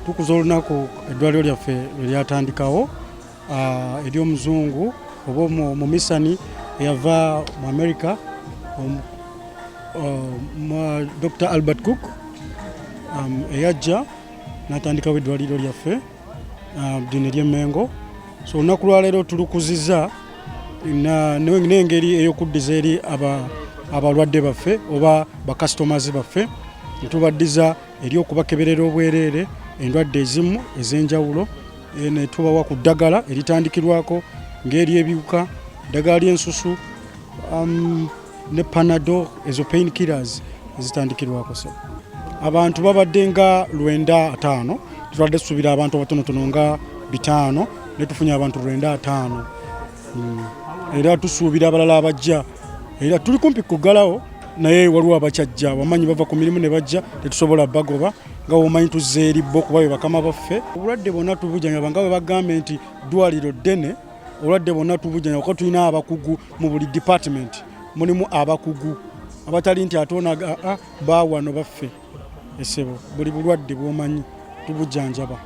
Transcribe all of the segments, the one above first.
tukuza olunaku eddwaliro lyaffe lweryatandikawo ah, ery'omuzungu oba omumisani eyava mu america ah, dr albert cook um, eyajja natandikawo eddwaliro lyaffe ah, ddini ly'emmengo so olunaku lwaleero tulukuzizza n'engeri ey'okuddiza eri abalwadde baffe oba bakasitomazi baffe netubaddiza eri okubakeberera obwereere endwadde ezimu ez'enjawulo eh, netubawa ku ddagala eritandikirwako ng'eri ebiwuka eddagala ly'ensusu um, ne panado ezo pain killers ezitandikirwako so abantu babadde nga lwenda ataano tubadde tusubira abantu abatonotono nga bitaano ne tufunye abantu lwenda ataano hmm. era tusuubira abalala abajja era tuli kumpi kugalawo naye waliwo abakyajja wamanyi bava ku mirimu ne bajja tetusobola bagoba nga womanyi tuzza eri bo kuba be bakama baffe obulwadde bwonna tubujanyaba nga bwe bagambye nti ddwaliro ddene obulwadde bwonna tubujjanya kuba tulina abakugu mu buli department mulimu abakugu abatali nti ate onaga ah, bawano baffe esebo buli bulwadde bwomanyi tubujjanjaba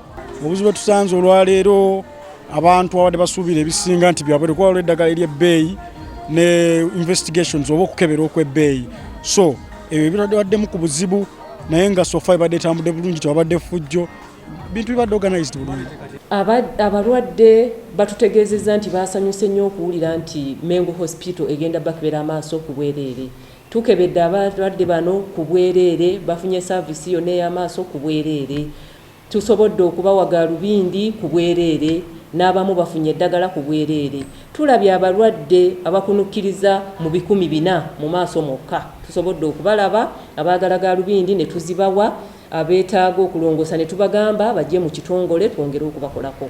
obuzibu bwetusanze olwaleero abantu abadde basuubira ebisinga nti byabwe kuba olwa eddagala eryebbeeyi ne investigations oba okukebera okwebbeeyi so ebyo ebitadewaddemu ku buzibu naye nga sofa ebadde etambudde bulungi tewabadde fujjo bintu bibadde organized bulungi abalwadde batutegeezezza nti baasanyuse nnyo okuwulira nti mengo hospital egenda bakebera amaaso ku bwereere tukebedde abalwadde bano ku bwereere bafunye saavisi yonna ey'amaaso ku bwereere tusobodde okubawa gaalubindi ku bwereere n'abamu bafunye eddagala ku bwereere tulabye abalwadde abakunukkiriza mu bikumi bina mu maaso mwokka tusobodde okubalaba abaagala gaalubindi ne tuzibawa abeetaaga okulongoosa ne tubagamba bajje mu kitongole twongere okubakolako.